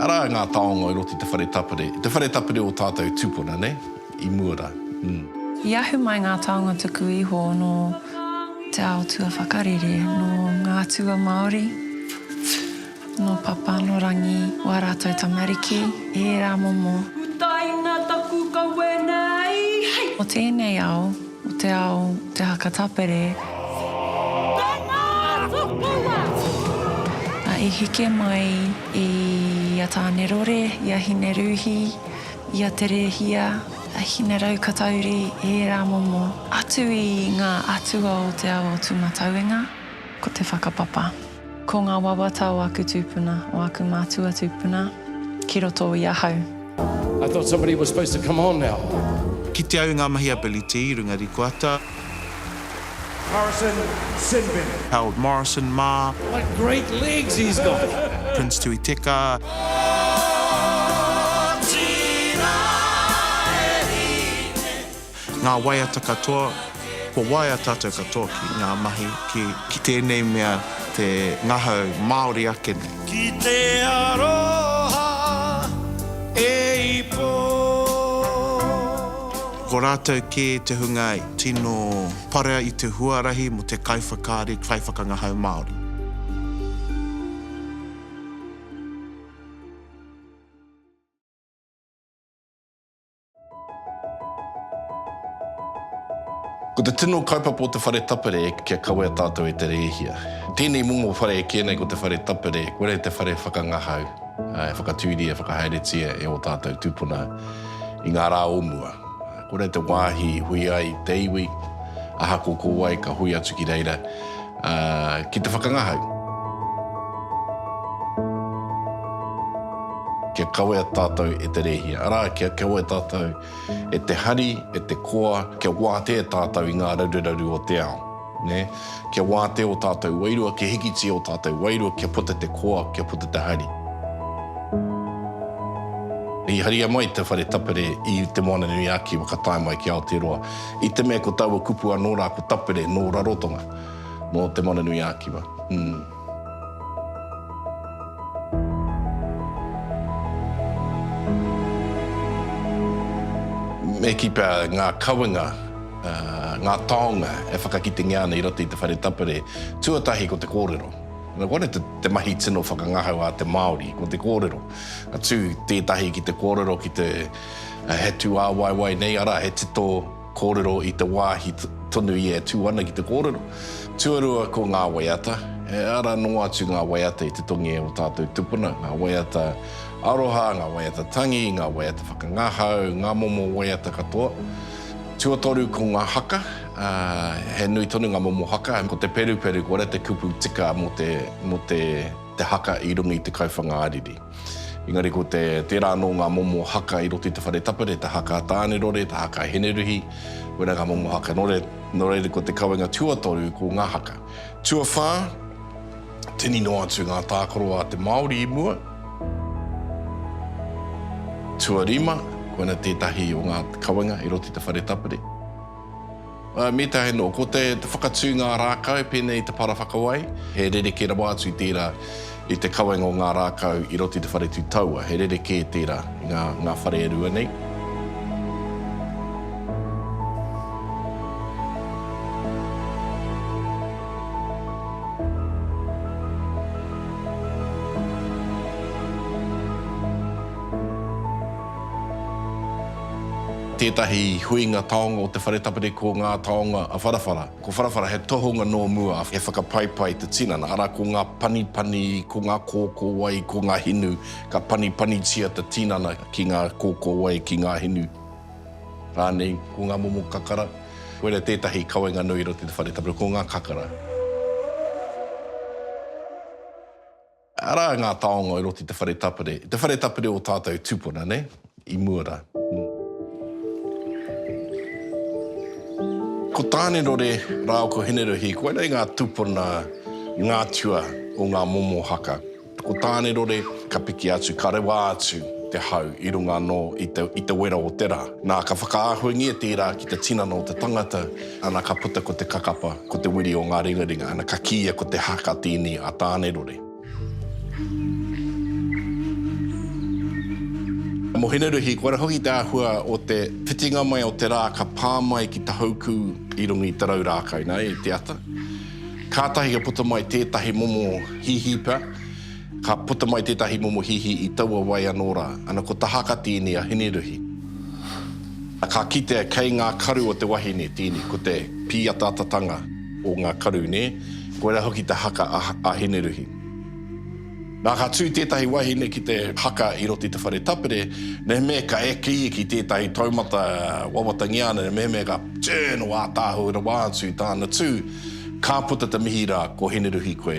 Arā ngā taonga i roto i te whare tapere, i te whare tapere o tātou tūpuna, nei, i mua rā, ū. I ahu mai ngā taonga tuku iho nō te ao tuawhakarere, nō ngā atua Māori. Nō Papa, nō Rangi, wā rātou tamariki, ērā momo. Utaina taku kawe nei. O tēnei ao, o te ao te haka tapere, ā, i heke mai i a Tānerore, i a Hinerūhi, i a Te Rēhia, a Hineraukatauri, ērā momo, atu i ngā atua o te ao o Tūmatauenga. Ko te whakapapa. Ko ngā wawata o aku tūpuna, o aku mātua tūpuna, ki roto i ahau. I thought somebody was supposed to come on now. Kite au i ngā mahi a Billy T, Runga Rikoata. Harrison Sinbin. Harold Morrison mā. What great legs he's got! Prince Tui Teka. Ngā waiata katoa, kua waea tātou katoa ki ngā mahi, ki. Ki tēnei mea te ngahau Māori ake nei. Ki te aroha e ipo. Ko rātou kē te hunga i. Tino parea i te huarahi mō te kaiwhakaari, kaiwhakangahau Māori. Ko te tino kaupapa o te whare tapere kia kawea tātou e te rēhia. Tēnei momo whare e kī nei ko te whare tapere, kore te whare whakangahau, e whakatūria, e whakahaeretia e ō tātou tūpuna i ngā rā o mua. Kore te wāhi i hui ai te iwi, ahakoa ko wai ka hui atu ki reira, Ki te whakangahau. Kia kawea tātou e te Rēhia, arā, kia kawea tātou e te hari, e te koa, kia wātea tātou i ngā raruraru o te ao. Kia wātea ō tātou wairua, kia hikitia ō tātou wairua, kia puta te koa, kia puta te hari. I haria mai te whare tapere i Te Moananui-a-Kiwa ka tae mai ki Aotearoa. I te mea ko taua kupu anō rā ko Tapere nō Rarotonga, nō Te Moana-nui-ā-Kiwa. Umm. Me kī pea ngā kawenga, ngā taonga e whakakitengia ana i roto i te whare tapere, tuatahi ko te kōrero. Nō konei te mahi tino whakangahau a te Māori, ko te kōrero. Atu tētahi ki te kōrero ki te. He tūāwaiwai nei, arā, he tito kōrero i te wāhi tonu ia e tū ana ki te kōrero. Tuarua ko ngā waiata, e ara noa atu ngā waiata i te tongi e ō tātou tupuna, ngā waiata aroha, ngā waiata tangi, ngā waiata whakangahau, ngā momo waiata katoa. Tuatoru ko ngā haka, he nui tonu ngā momo haka, ko te peruperu, ko reira te kupu tika mō te haka i runga i te kauwhanga ariri. Engari ko te, tērā anō ngā momo haka i roto i te whare tapere, te haka a Tānerore, te haka a Hineruhi, wera ngā momo haka. Nō reira, nō reira ko te kawenga tuatoru ko ngā haka. Tuawhā, tini noa atu ngā tākaro a te Māori i mua. Tuarima, koina tētahi o ngā kawenga i roto i te whare tapere. Me tahi anō, ko te whakatū ngā rākau pēnei i te para whakawai, he rerekē rawa atu tērā i te kawenga o ngā rākau i roto i te whare tū taua, he rerekē tērā i ngā whare e rua nei. Tētahi huinga taonga o te whare tapere ko Ngā Taonga a Wharawhara. Ko Wharawhara he tohunga nō mua, he whakapaipai te tinana, arā, ko ngā panipani, ko ngā kōkōwai, ko ngā hinu, ka panipanitia te tinana ki ngā kōkōwai, ki ngā hinu rānei. Ko ngā momo kakara, koira tētahi kawenga nui i roto i te whare tapere, ko ngā kakara. Arā ngā taonga i roto i te whare tapere, i te whare tapere o tātou tupuna, nei, i mua rā. Ko Tānerore rāua ko Hineruhi, koinā i ngā tupuna, i ngā atua o ngā momo haka. Ko Tānerore, ka piki atu, ka rewa atu te hau i runga anō i te wera o te rā. Nā, ka whakaahuangia tērā ki te tinana o te tangata. Ana ka puta ko te kakapa, ko te wiri o nga ringaringa, ana ka kiia ko te haka tini a Tanerore. Mo Hineruhi, kua ra hoki te ahua o te whitinga mai o te ra ka pa mai ki Tahouku i runga i Tarau Rakai, na, i te ata. Katahi ka puta mai tetahi momo hihipa, Ka puta mai tētahi momo hihi i taua wai anō rā, ana ko Tahaka tīni a Hineruhi. Na ka kitea kei ngā karu o te wahine tīni, ko te pīataatatanga o ngā karu, nē, koirā hoki te haka a Hineruhi. Na ka tū tētahi wahine ki te haka i roto i te whare tapere, mehemea ka eke ia ki tētahi taumata wawatangia ana, na mehemea ka turn o ātaahua rawa atu i tāna tū, ka puta te mihi rā, ko Hineruhi koe,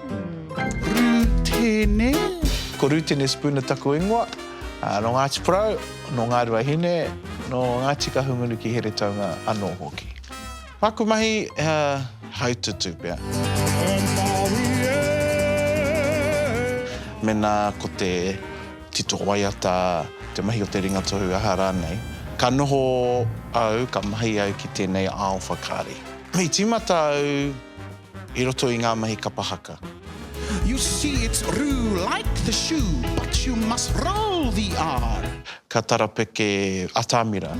Rūtene. Ko Rūtene Spooner taku ingoa, nō Ngāti Porou, nō Ngāruahine, nō Ngāti Kahungunu ki Heretaunga anō hoki. Māku mahi he haututū pea. Mēnā ko te tito waiata, te mahi o te ringatohu, aha rānei, ka noho au, ka mahi au ki tēnei ao whakaari. I tīmata au. i roto i ngā mahi kapa haka. You see it's roo like the shoe but you must roll the r. Ka tarapeke atamira.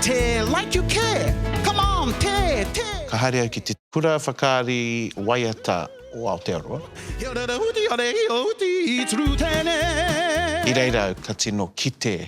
Te like you care, come on te, te. Ka haere au ki te. Kura whakaari waiata o Aotearoa. He ora rahuti, a rehi o uti, it's roo tēnei. I reira au ka tino kite.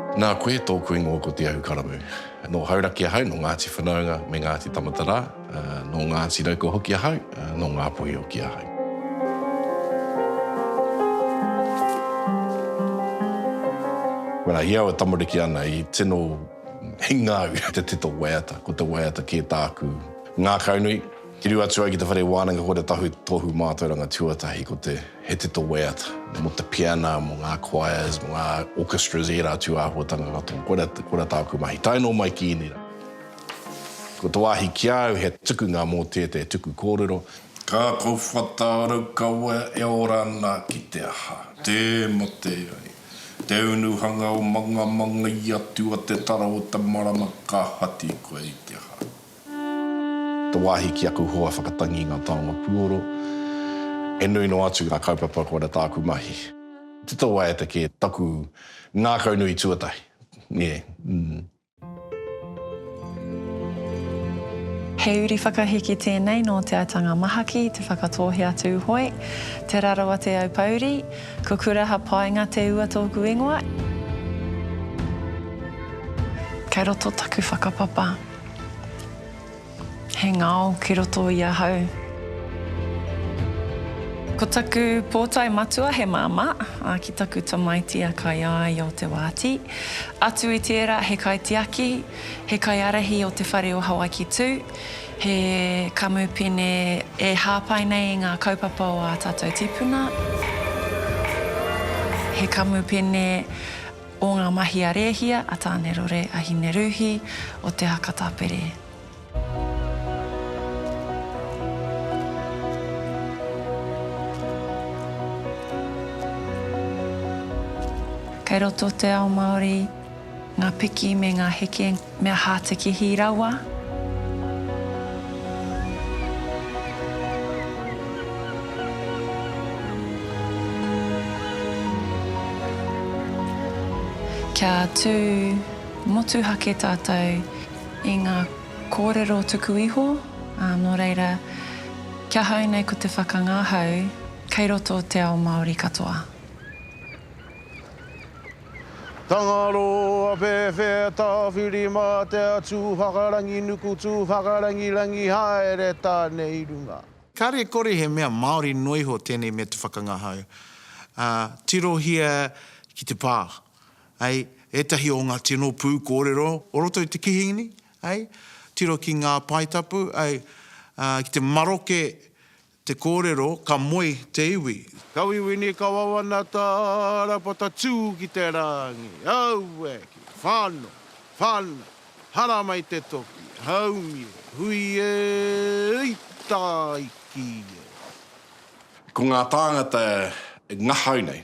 Nā koe tōku ingoa ko Te Ahukaramū. Nō Hauraki ahau, nō Ngāti Whanaunga me Ngāti Tamatarā, nō Ngāti Raukawa hoki ahau, nō Ngāpuhi hoki ahau. When I hear our tamariki ana i tino hinga au te tito waiata, ko te waiata kē tāku ngākaunui. Tiru atu ai ki te whare wānanga kua tahu te tohu mātauranga tuatahi ko te He Tito Waiata mō te piana, mō ngā choirs, mō ngā orchestras i ērā atu āhuatanga katoa. Koira, koira tāku mahi. Tae nō mai ki ēnei rā. Ko te wāhi ki au he tukunga mō tētei tuku kōrero. Ka kōwhata Raukawa e ora ana ki te aha? Tē mate ai. Te unuhanga o Mangamanga i atu a Te Tara o te Marama ka hati koe i te aha? Te wāhi ki aku hoa whakatangi i ngā taonga puoro, e nui noa atu ngā kaupapa kua ora tāku mahi. Te tō waiata kē taku ngākau nui tuatahi, nē. He uri whakahiki tēnei nō Te Aitanga Mahaki, Te Whakatōhea-a-Tūhoe, Te Rarawa-te-Aupouri. Ko Kuraha Paenga Te Ua tōku ingoa. Kei roto taku whakapapa. He ngao ki roto i ahau. Ko taku pōtae matua he māmā, ā, ki taku tamaiti a Kaiāi o Te Wāti. Atu i tērā, he kaitiaki, he kaiārahi o te whare o Hawaiki Tū, he kamupene e hāpai nei i ngā kaupapa o ā tātou tīpuna, he kamupene, o ngā mahi a Rēhia, a Tānerore, a Hinerūhi, o te haka tapere. Kei roto te ao Māori ngā piki me ngā heke. Me aha te kihi rawa? Kia tū motuhake tātou i ngā kōrero tuku iho, ā, nō reira, ki ahau nei ko te whakangahau kei roto te ao Māori katoa. Tangaro, Awhewhe, Tawhiri, Mā te Atu, Whakarangi nuku tū, Whakarangi rangi haere tāne i runga. Kāre e kore he mea Māori noa iho tēnei mea te whakangahau, ā, tirohia ki te pā, hei, ētahi o ngā tino pū kōrero o roto i te kihini, hei, tiro ki ngā paetapu, hei, ā, ki te maroke Te kōrero, ka moe te iwi. Ka wiwini, ka wawana tā Rāpata tū ki te rāngi. Aue! Ki whano! Whana! Haramai te toki! Haumi e! Hui e! Ui! Tāiki e! Ko ngā tāngata e ngahau nei,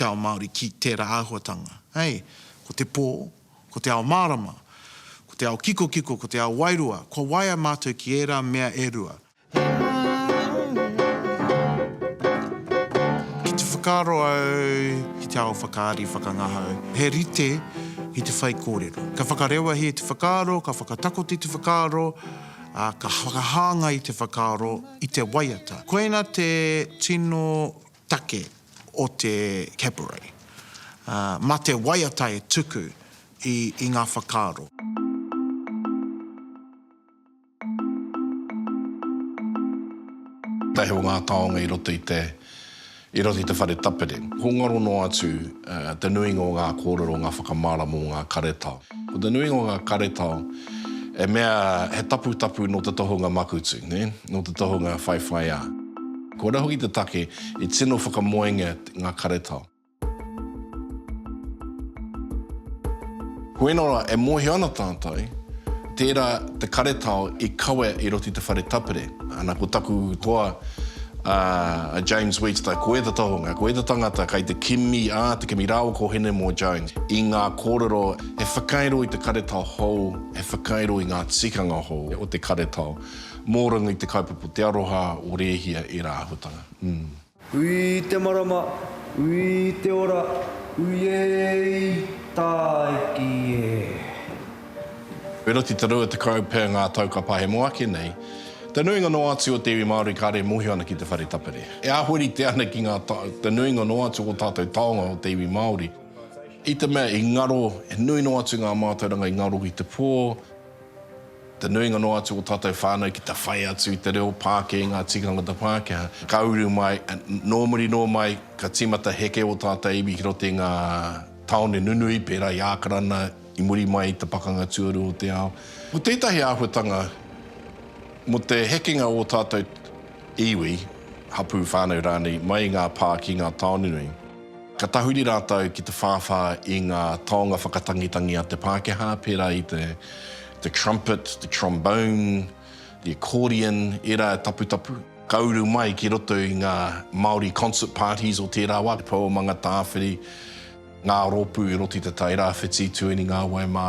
te ao Māori ki tērā āhuatanga. Hei, ko te pō, ko te ao mārama, ko te ao kikokiko, ko te ao wairua, kua waia mātou ki ērā mea e rua. Ki te whakaaro au ki te ao whakaari, whakangahau, he rite ki te whaikōrero. Ka whakarewahia te whakaaro, ka whakatakoti te whakaaro, ā, ka whakahāngai te whakaaro i te waiata. Koina te tino take o te cabaret, ā, mā te waiata e tuku i, i ngā whakaaro. Tahi o ngā taonga i roto i te, i roto i te whare tapere. Ko ngaro noa atu te nuinga o ngā kōrero, ngā whakamārama o ngā karetao. Ko te nuinga o ngā karetao, e mea he taputapu nō te tohunga makutu, nō te tohunga whaiwhaiā. Koira hoki te take i tino whakamoengia ngā karetao. Koina rā, e mōhio ana tātou, tērā te karetao i kawe i roto i te whare tapere. Ana ko taku toa a James Webster, ko ēta tohunga, ko ēta tangata kei te kimi a te kimi rāua ko Henemore Jones i ngā kōrero he whakairo i te karetao hou, he whakairo i ngā tikanga hou o te karetao mō runga i te kaupapa Te Aroha o Rēhia ērā āhuatanga. Ui te marama, ui te ora, uiei tāiki e. Wheroti te rua tekau pea ngā tau ka pahemo ake nei, te nuinga noa atu o te iwi Māori kāre e mōhio ana ki te whare tapere. E ahu rite ana ki ngā te nuinga noa atu o tātou taonga o te iwi Māori, i te mea i ngaro, he nui noa atu ngā mātauranga i ngaro i te pō, Te nuinga noa atu o tātou whānau ki te whai atu i te reo Pākē i ngā tikanga o te Pākehā, ka uru mai, nō muri nō mai, ka tīmata heke ō tātou iwi ki roto i ngā tāone nunui, pērā i Ākarana, i muri mai i te Pakanga Tuarua o te Ao. Ko tētahi āhuatanga mō te hekenga o ō tātou iwi, hapū, whānau rānei, mai i ngā pā ki ngā tāone nui. Ka tahuri rātou ki te whāwhā i ngā taonga whakatangitangi a te Pākehā, pērā i te the trumpet, the trombone, the accordion, ērā e taputapu. Ka uru mai ki roto i ngā Māori concert parties o tērā wā, te pou o Mangatāwhiri, ngā rōpū i roto i te Tai Rāwhiti, Tueningāwai mā.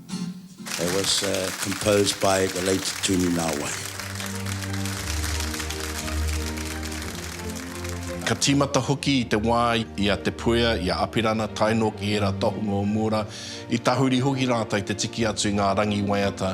It was composed by the late Tūnī Nāwai. Ka tīmata hoki i te wā i a Te Puea, i a Apirana, tae noa ki ērā tohunga o Mūra, i tahuri hoki rātou te tiki atu i ngā rangi waiata.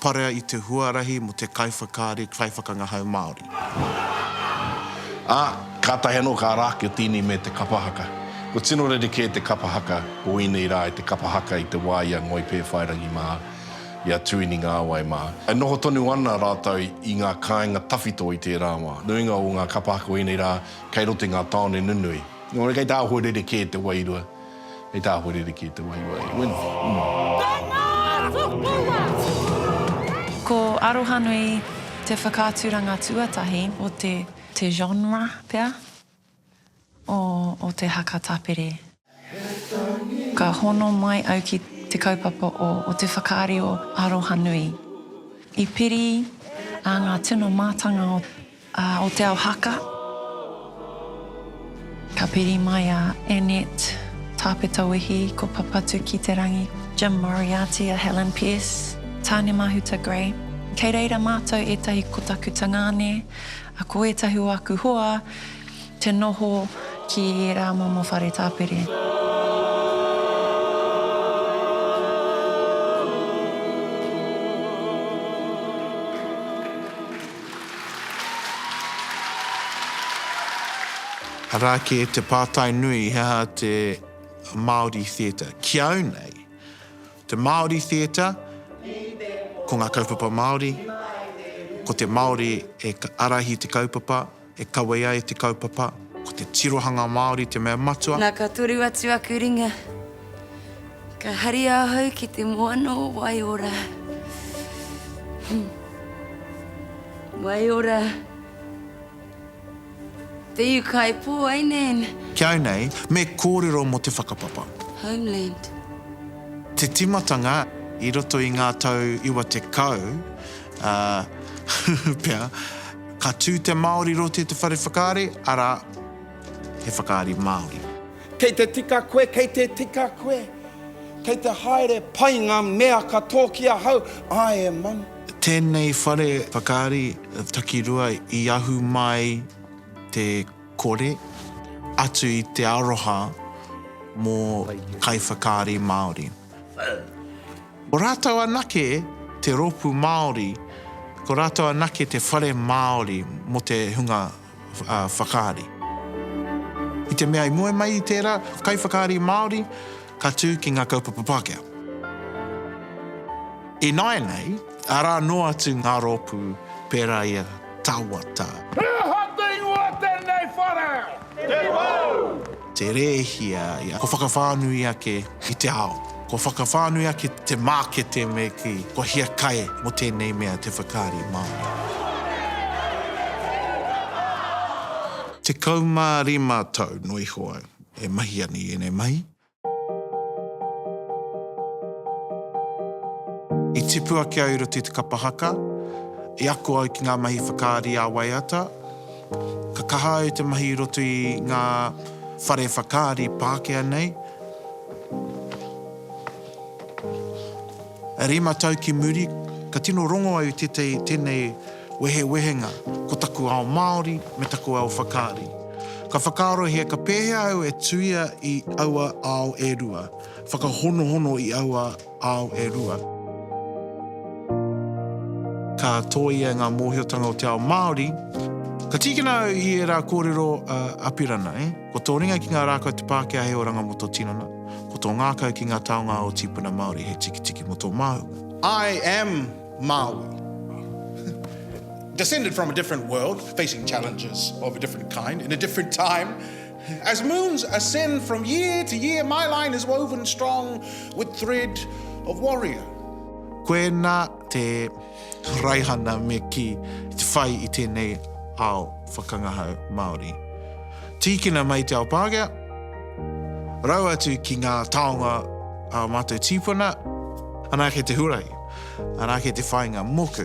Parea i te huarahi mō te kaiwhakaari, kaiwhakangahau Māori. Ā, kātahi anō ka ara ake o te ini me te kapa haka. Kua tino rere kē te kapa haka o ēnei rā i te kapa haka i te wā i a Ngoi Pēwhairangi mā, i a Tuini Ngāwai mā. E noho tonu ana rātou i ngā kāinga tawhito i tērā wā. Nuinga o ngā kapa haka o ēnei rā kei roto i ngā tāone nunui. Nō reira kei te āhua rere kē te wairua. Hei tā Hoririki i te wahiwahi, When Ko Arohanui te whakaaturanga tuatahi o te te genre pea o te haka tapere. Ka hono mai au ki te kaupapa o te whakaari o Arohanui. I piri a ngā tino mātanga o. A o Te Ao Haka, ka piri mai a Annette Tāpetawehi, ko Papatu-ki-te-rangi, Jim Moriarty, a Helen Pearce, Tāne Mahuta Grey. Kei reira mātou ētahi ko taku tangāne, a ko ētahi o aku hoa te noho ki ērā momo whare tāpere. Arā kē te pātai nui, he aha te Māori Theatre? Ki au nei, te Māori Theatre, ko ngā kaupapa Māori, ko te Māori e ārahi te kaupapa, e kawē ai te kaupapa, ko te tirohanga Māori te mea matua. Na ka toru atu aku ringa. Ka haria ahau ki te moana o Waiora. Waiora. Te iu kai pō ai nēn. Ki au nei, me kōrero mō te whakapapa. Homeland. Te timatanga i roto i ngā tau iwa tekau, ā, pea, ka tū te Māori roti te whare whakaari, arā, he whakaari Māori. Kei te tika koe, kei te tika koe. Kei te haere pai ngā mea ka tō ki ahau, āe e Manu. Tēnei whare whakaari takirua i ahu mai te kore atu i te aroha mō kaiwhakaari Māori. Ko rātou anake te rōpū Māori, ko rātou anake te whare Māori mō te hunga whakaari. I te mea i moe mai i tērā kaiwhakaari Māori ka tū ki ngā kaupapa Pākehā. Ināianei, arā noa atu ngā rōpū pērā i a Tawata. He aha te ingoa tēnei whare? Te Pou! te rēhia ia, kua whakawhānui ake i te ao, kua whakawhānui ake te mākete me kī, kua hiakai mō tēnei mea te whakaari Māori. 15 tau noa iho au e mahi ana i ēnei mahi. I tipu ake au i roto i te kapa haka, i ako au ki ngā mahi whakaari ā-waiata. Ka kaha au te mahi i roto i ngā whare whakaari Pākehā nei. E rima tau ki muri, ka tino rongo au i tētahi tēnei wehewehenga, ko taku ao Māori me taku ao whakaari. Ka whakaarohia ka pēhea au e tuia i aua ao e rua, whakahonohono i aua ao e rua. Ka tōia ngā mōhiotanga o te ao Māori, ka tīkina au i ērā kōrero a Apirana, e, ko tō ringa ki ngā rākau te Pākehā he oranga mō tō tinana, ko tō ngākau ki ngā taonga o tīpuna Māori he tikitiki mō tō māhunga. I am Māui. Descended from a different world, facing challenges of a different kind, in a different time. As moons ascend from year to year my line is woven strong with thread of warrior. Koena te raihana me kī i te whai i tēnei ao whakangahau Māori. Tīkina mai te ao Pākehā, rau atu ki ngā taonga a mātou tīpuna, anake te huarahi, anake te whāinga moku.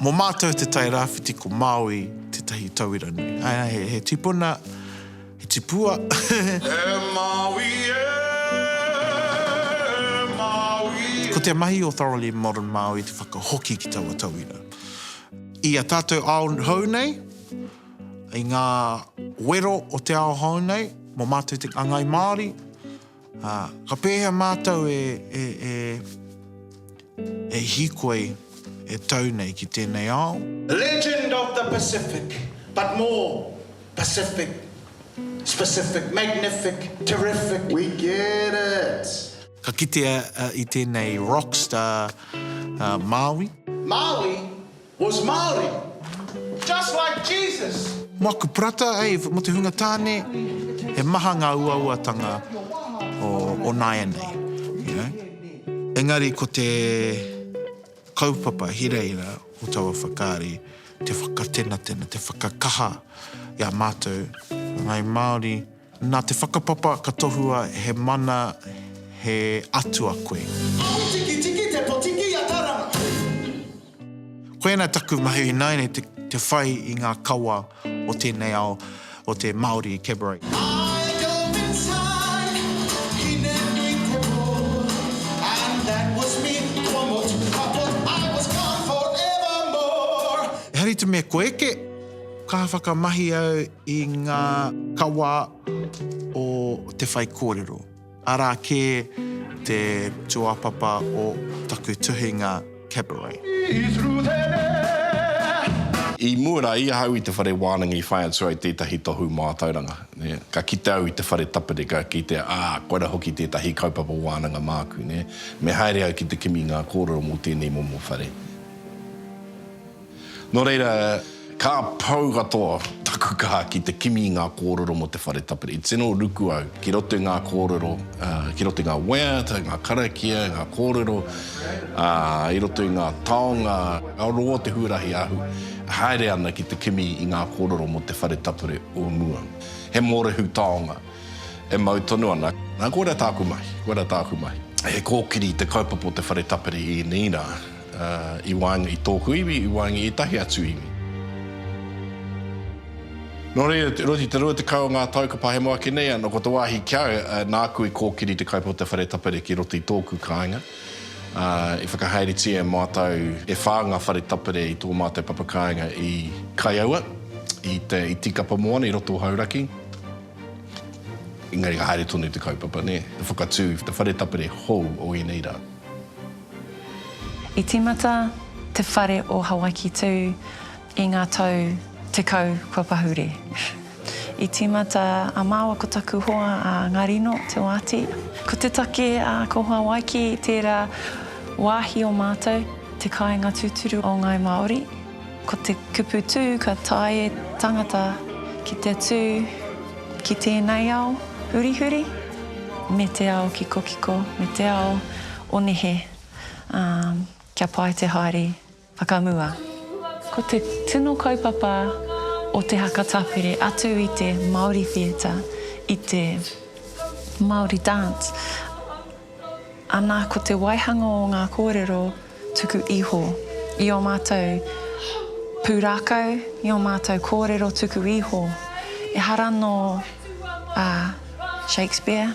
Mo mātou te Tairāwhiti ko Māui tētahi tauira nui. He tipuna, he tipua. E Māui e, e Māui e. Ko te mahi o Thoroughly Modern Māui te whakahoki ki taua tauira. I a tātou ao hou nei, i ngā wero o te ao hou nei, mo mātou te ngangai Māori, Ā, ka pēhea mātou e, e, e, e hīkoi, e tau nei ki tēnei ao? Legend of the Pacific, but more Pacific, specific, magnific, terrific. We get it! Ka kitea i tēnei rock star Māui. Māui? Was Māori, just like Jesus! Moaku Parata, Ave, mo te hunga tane, he maha nga uauatanga o naianei, you know. Engari ko te kaupapa hirahira o taua whakaari, te whakatenatena, te whakakaha i a matou ngai Maori. Nā te whakapapa ka tohua he mana he atua koe. Ahutikitiki te potiki i a Taranga. Koinā taku mahi ināianei te whai i ngā kawa o tēnei ao o te Māori Cabaret. I go inside, hine nui te pō, and that was me, kua motu ka pō, I was gone forevermore. Ehara i te mea kua eke, ka whakamahi au. i ngā kawa o te whaikōrero, arā kē te tūāpapa o taku tuhinga Cabaret. I mua rā i ahau i te whare wānanga i whai atu ai tētahi tohu mātauranga. Ka kite au i te whare tapere, ka kitea, ā, koirā hoki tētahi kaupapa wānanga māku. Me haere au ki te kimi i ngā kōrero mō tēnei momo whare. Nō reira, ka pau katoa taku kaha ki te kimi i ngā kōrero mō te whare tapere. I tino ruku au ki roto i ngā kōrero, ki roto i ngā waiata, ngā karakia, ngā kōrero, ā, i roto i ngā taonga, ka rongo te huarahi ahu, e haere ana ki te kimi i ngā kōrero mō te whare tapere o mua. He mōrehu taonga e mau tonu ana. Nā, koirā tāku mahi, koirā tāku mahi. He kōkiri te kaupapa o te whare tapere i ēnei rā. I waenga i tōku iwi, i waenga i ētahi atu iwi. Nō reira, e rua i te rua tekau o ngā tau ka pahemo ake nei anō, ko te wāhi kia nāku i kōkiri te kaupapa o te whare tapere ki roto i tōku kāinga. I whakahaeretia e mātou e whā ngā whare tapere i tō mātou papa kāinga i Kaiaua, i Tīkapa Moana, i roto o Hauraki. Engari ka haere tonu te kaupapa, nē, te whakatū i te whare tapere hou o ēnei rā. I tīmata te whare o Hawaiki Tū i ngā tau tekau kua pahure. I tīmata a māua ko taku hoa a Ngarino Te Waati. Ko te take a ko Hawaiki tērā wāhi o mātou te kāinga tūturu o Ngāi Māori. Ko te kupu tū ka tae e tangata ki te tū ki tēnei ao hurihuri me te ao kikokiko me te ao O nehe, ā, kia pai te haere whakamua. Ko te tino kaupapa o te haka tapere atu i te Māori Theatre, i te Māori Dance, ana ko te waihanga o ngā kōrero tuku iho i ō mātou pūrākau, i ō mātou kōrero tuku iho, ehara nō a Shakespeare,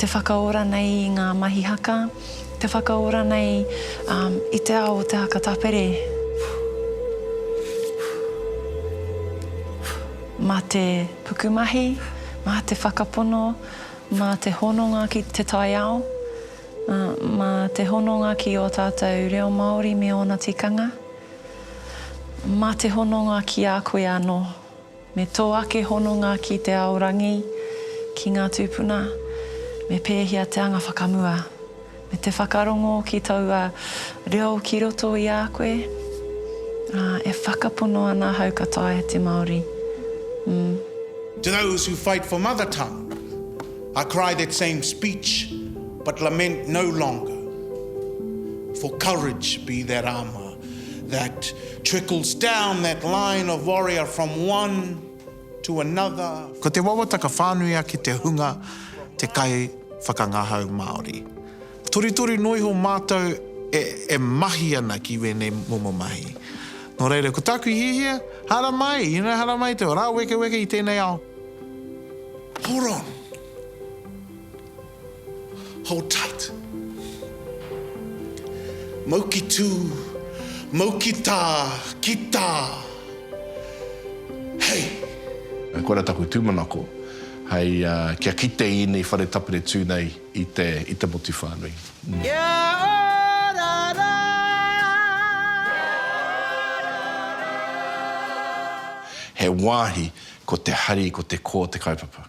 te whakaora nei i ngā mahi haka, te whakaora nei i te ao o te haka tapere. Mā te pukumahi, mā te whakapono, mā te hononga ki te taiao, mā te hononga ki ō tātou reo Māori me ōna tikanga, mā te hononga ki a koe anō. Me tō ake hononga ki te ao rangi, ki ngā tūpuna, me pēhea te anga whakamua, me te whakarongo ki taua reo ki roto i a koe, ā, e whakapono ana ahau ka taea te Māori, mm. To those who fight for mother tongue, I cry that same speech, but lament no longer, for courage be that armour that Trickles down that line of warrior from one to another. Ko te wawataka whānui ake te hunga te kai whakangahau Māori. Torutoru noa iho mātou e mahi ana ki wēnei momo mahi. Nō reira, ko tāku hiahia, haramai, you know, haramai te rāwekeweke i tēnei ao. Hold on! Hold tight. Mau ki tū, mau ki tā, ki tā. Hei! Koira taku tūmanako, hei kia kite i ēnei whare tapere tū nei i te, i te motu whānui. Kia ora rā! He wāhi ko te hari, ko te kō te kaupapa.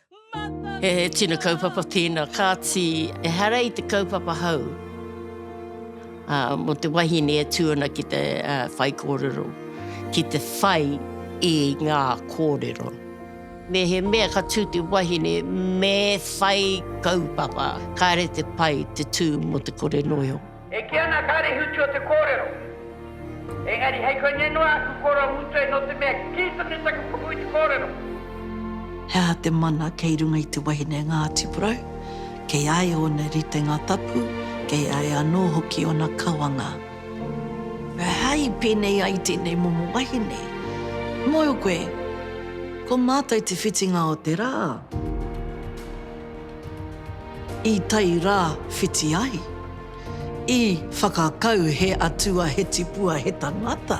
He tino kaupapa tēnā, kāti ehara i te kaupapa hou mō te wahine e tū ana ki te whaikōrero, ki te whai i ngā kōrero. Mehemea ka tū te wahine me whai kaupapa, kāre te pai te tū mō te kore noio. E kī ana a Kārehuti o te kōrero, Engari hei koinei noa aku koro a Mutoe nō te mea kī tonu taku puku i te kōrero. He aha te mana kei runga i te wahine Ngāti Porou? Kei a ia ōna ritenga tapu, kei a ia anō hoki ōna kawanga. He aha i pēnei ai tēnei momo wahine? Mōhio koe, ko mātou te whitinga o te rā. I tai rā whiti ai. I whakakau he atua he tipua he tangata.